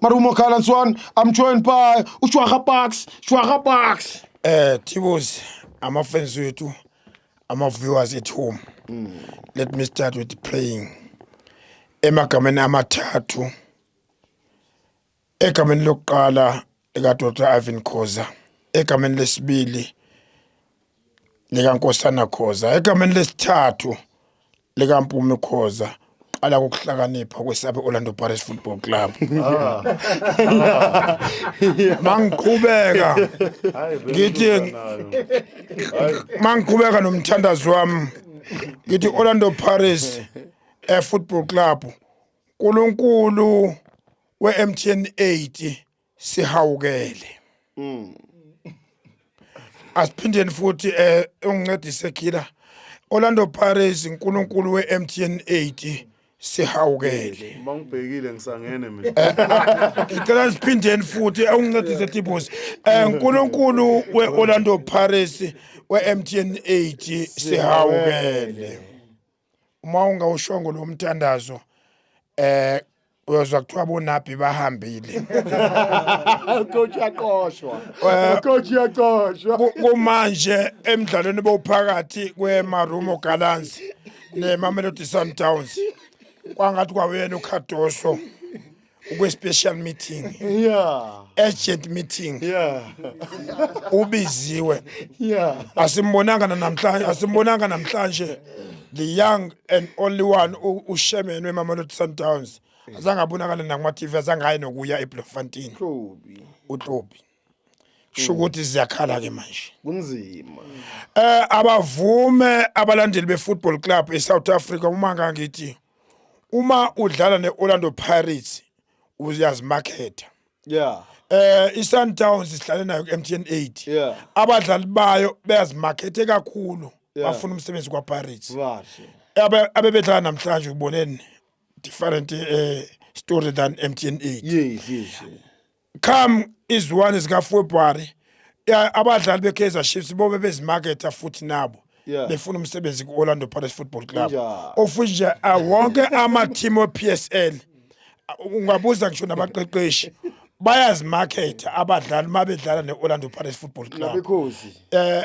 marumo khalan swan i'm joined by ushwaha bucks shwaha bucks eh tibozi ama fans wethu ama viewers at home mm. let me start with praying emagameni amathathu egameni lokuqala lika Dr Ivan Khoza egameni lesibili lika Nkosana Khoza egameni lesithathu likaMpumi Khoza qala ngokuhlakanipha kwesabe Orlando Pirates Football Club ah. mangiqhubeka ngithi mangiqhubeka nomthandazo wami ngithi Orlando Pirates eh, Football Club uNkulunkulu we-MTN 8 sihawukele mm. asiphindeni futhi eh ungincedise khila Orlando Pirates uNkulunkulu weMTN 80 sihawukele uma ngibhekile ngisangene mina eh, ah, ngicela siphindeni futhi ungincedise Tibos eh uNkulunkulu weOrlando Pirates weMTN 80 sihawukele uma ungawushongo lo mthandazo eh uyozwa kuthiwa bonabhi bahambile coach yaqoshwa eh, coach yaqoshwa kumanje emidlalweni bowuphakathi kweMarumo Gallants neMamelodi Sundowns kwangathi kwawuyena uKhadoso ukwe-special meeting yeah urgent meeting yeah ubiziwe yeah asimbonanga namhlanje asimbonanga namhlanje the young and only one ushemenwe emamelodi sundowns azange abonakale nakuma-tv azange aye nokuya eblofontein utlobi sho ukuthi ziyakhala ke manje kunzima eh abavume abalandeli befootball club eSouth Africa uma ngangithi uma udlala ne-orlando pirates uyazimakhetha yeah eh iSundowns isihlale nayo kuMTN 8 yeah abadlali bayo beyazimakhethe kakhulu bafuna umsebenzi kwaPirates kahle abe abebedlala namhlanje uboneni different eh story than MTN 8 yes yes come iziwane zikafebruary ya- abadlali be-kaizer chiefs bobe bezimaketha futhi nabo Yeah. befuna umsebenzi ku-orlando pirates football club Injalo. of which nje ah, wonke amathimu e-psl ah, ungabuza ngisho nabaqeqeshi bayazimaketha abadlali uma bedlala ne-orlando pirates football club Nabekhozi. eh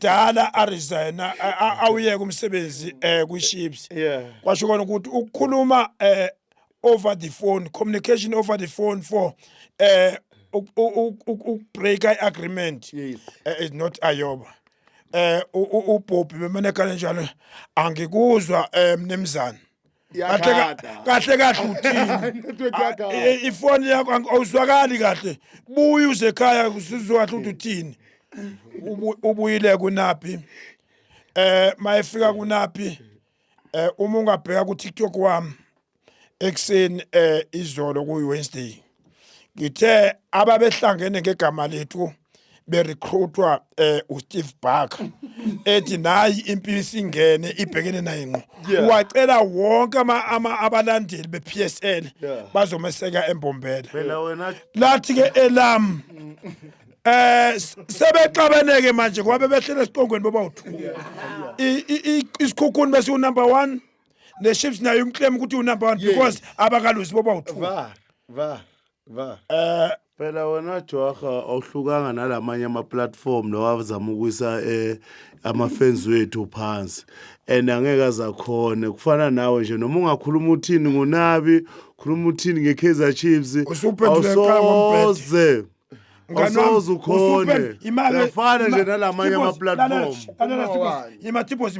dala aresigna awuyeke umsebenzi eh kwiShips yeah kwasho kona ukuthi ukukhuluma eh over the phone communication over the phone for eh ukubreak i-agreement yes. uh, is not ayoba eh ubhobhi bemane kanjalo angikuzwa eh, mnimzana kahle ka- Iyakhada. kahle kahle uthini Network Ah, yakhala. eh, ifoni yakho ang- awuzwakali kahle buye uze ekhaya usizwe kahle ukuthi uthini Ubu- ubuyile kunaphi eh mayefika kunaphi eh uma ungabheka ku TikTok wami ekseni eh izolo ku Wednesday ngithe ababehlangene ngegama lethu berecruitwa eh uSteve Barker ethi nayi impilo isingene ibhekene naye ngqo Yeah. wacela wonke ama ama- abalandeli bePSL Yeah. bazomeseka embombela phela wena lathi ke elam eh s- sebexabeneke manje kwabe behlele esiqongweni bobawu2 isikhukhuni besiwu number 1 neShips nayo imclaim ukuthi unumber 1 Yes. because abakaluzi boba u2 var var var eh phela wena joaha awuhlukanga nalamanye ama-platform lawa azama ukuyisa um ama-fans wethu phansi and angeke azakhone kufana nawe nje noma ungakhuluma uthini ngonabi khuluma uthini nge-kaizer chiefs Usuphendule qha ngombhedo. awusoze Awusoze ukhone. Uyafana nje nalamanye ama-platform. yimatibos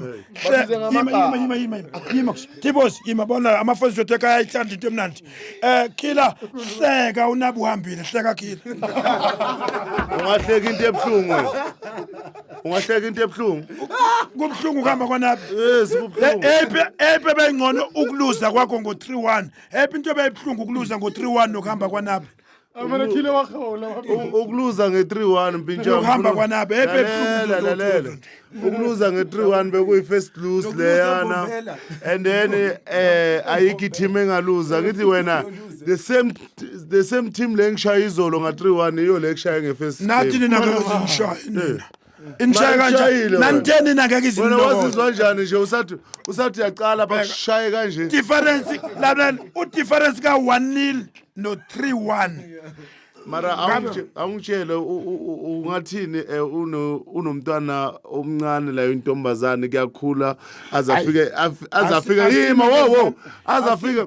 tibos yima bona amafoni zothu ekhaya ayithanda into emnandi um khila hleka unabi uhambile hleka khila Ungahleki into ebuhlungu. wena. Ungahleki into ebuhlungu. kubuhlungu ukuhamba kwanabi Yes, kubuhlungu. epe ebengcono ukuluza kwakho ngo-3 1 epe into ebeyibuhlungu ukuluza ngo-3 1 nokuhamba kwanabi Amana khile wa khaola wa U- ukuluza nge-3-1 mpintshana Ukuhamba kwanabe, ebe buhlungu lalela uzothola lalela nje. ukuluza nge-3-1 bekuyi-first lose Lokuluza leyana Mbombela. and then eh ayikho i-team engaluza ngithi wena the same the same team le engishaye izolo nga-3-1 iyo le ekushaye nge-first nathi game. nina ngeke zinishaye nina Ngishaye kanje. Mashayile wena. Nanitheni nake Wena izinto. wazizwa njani nje usathi usathi uyaqala bakushaye kanje. Difference lalela u difference ka 1 nil no 3 1. Mara awungitshe- awungitshele u- u- u- ungathini eh, uno- unomntwana omncane layo intombazane kuyakhula azafike af- azafike yima wo wo azafike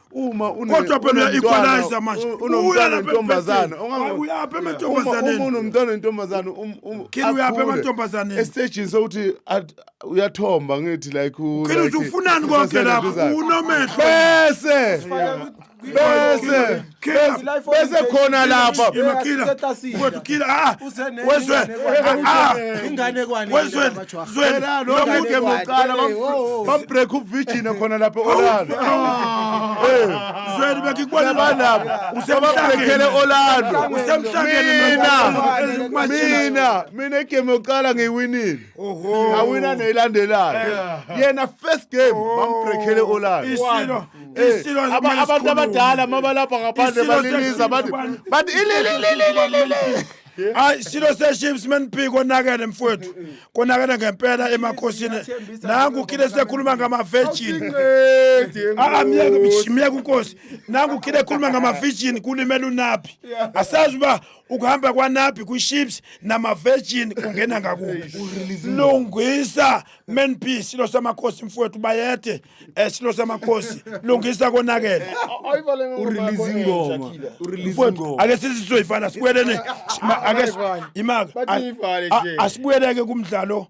uma kodwa phela uya-equalizer manje unomntwana wentombazane uyaphi emantombazaneni uma unomntwana wentombazane um, um, khini uyaphi emantombazaneni esitejini sokuthi uyathomba ngithi like khini uthi ufunani konke lapho unomehlo bese bese bese khona lapha wethukile a wezwe ingane kwani wezwe Zwela lo Lomngane mude wakhe. muqala Hey, oh, oh. bam break uvirgin khona lapha Orlando. Zweli bekikubona Banabo usebabrekele Orlando. Usemhlangene Mina nomfana. mina mina igame yokuqala ngiyiwinile. Oho. Awina neyilandelayo. Yena first game bambrekele Orlando. Isilo. Eh, Isilo aba- abantu abadala mabalapha ngaphandle Isilo baniniza bathi sesizwe bathi ilililililili hayi silo seships meniphi konakele mfowethu konakele ngempela emakhosini nangu khile sekhuluma ngama-virgin Ah, myeke myeke unkosi nangu khile ekhuluma ngama-virgin kulimela unaphi asazi uba ukuhamba kwanaphi kwi-ships nama-virgin kungena ngakuphi lungisa menpi silo samakhosi mfowethu bayede esilo samakhosi lungisa konakele urelease ingoma urelease Mfowethu, ingoma ake sizizoyifana sibuyelene sima- ake si- Bayivale. imaka Bathi a- iyivale a- nje. asibuyeleke kumdlalo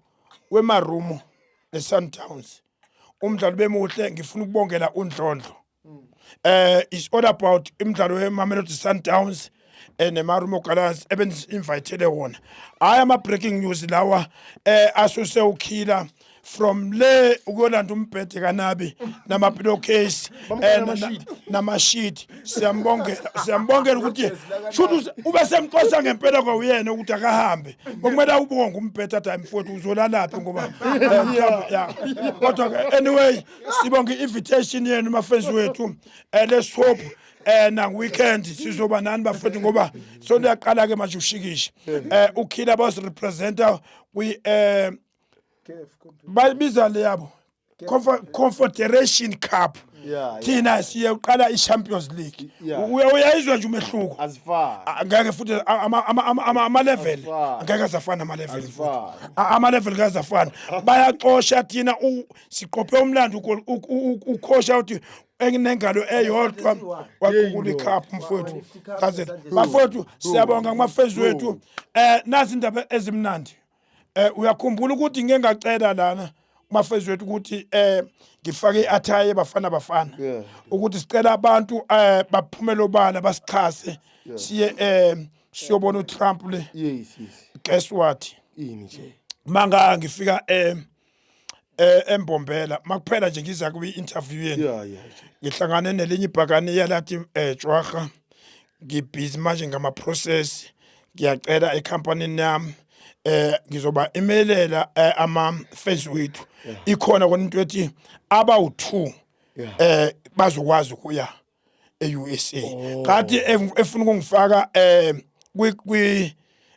wemarumo nesundowns umdlalo bemuhle ngifuna ukubongela undlondlo eh it's all about imidlalo yemamelodi sundowns eh nemarumo galas ebenzi invitele wona hayi ama breaking news lawa eh asuse ukhila from le ukuyolanda umbhede kanabi nama pillowcase eh, na- na- namashidi siyambongela siyambongela ukuthi shuthi ube semqosa ngempela kwawuyena ukuthi akahambe okumele awubonge umbhede athi hayi mfowethu uzolalaphi ngoba eh, mhlawumbe, ya. kodwa ke anyway sibonga i-invitation yenu mafenzi wethu eh, let's hope eh na weekend sizoba nani bafethu ngoba so liyaqala ke manje ushikisha eh ukhila bas representer kwi eh bayibiza le yabo confederation cup thina siye uqala i-champions league uyayizwa nje umehluko ah, ngeke futhi ama-level ngeke azafana ama-level ama-level ngeke azafana bayaxosha thina siqophe umlando ukhosha uthi enginengalo eyodwa wagugula ikhaphu mfowethu kazela bafowethu siyabonga kumafezi wethu um eh, nazi indaba ezimnandi um uyakhumbula ukuthi ngike ngacela lana kumafezi wethu ukuthi um ngifake i-athaye bafana bafana ukuthi sicela abantu um baphumele obala basixhase siye um siyobona utrump le guess what manga ngifika um eh embombela makuphela nje ngiza kwi interview yenu yeah yeah ngihlangane nelinye ibhakane yalathi eh Jwaga ngibhizi manje ngama process ngiyacela ecompany yami eh ngizoba imelela eh, ama fans wethu ikhona kona into ethi abawu2 eh bazokwazi ukuya e-USA oh. kade efuna ukungifaka um kwi kwi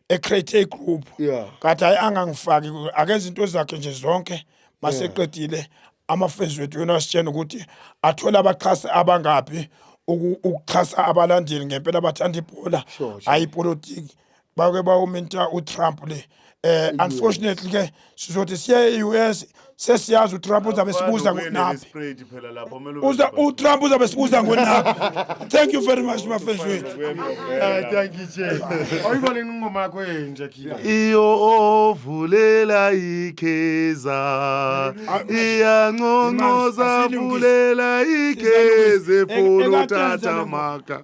a create a group yeah. kade hayi angangifaki akenza into zakhe nje zonke maseqedile yeah. amafezi wethu yona asitshena ukuthi athole abaxhasi abangaphi ukuxhasa abalandeli ngempela abathanda ibhola hayi ipolitiki bake bawuminta uTrump le eh unfortunately ke sizothi siye e-US sesiyazi uTrump uzabe sibuza ngonaphi uza uTrump uzabe sibuza ngonaphi thank you very much mafezo wethu eh, thank you Jay oyibona ingoma yakho enje khila iyo ovulela ikeza iyanconcoza vulela ikeze funu tata maka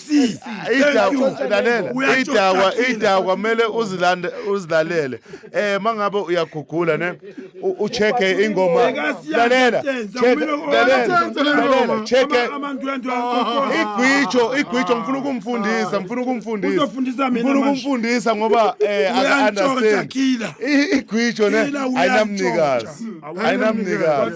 see idakwa idakwa kumele uzilande uzilalele eh mangabe uyagugula ne ucheke ingoma lalela lalela cheke igwijo igwijo ngifuna ukumfundisa ngifuna ukumfundisa ngifuna ukumfundisa ngoba eh understand igwijo ne ayinamnikazi ayinamnikazi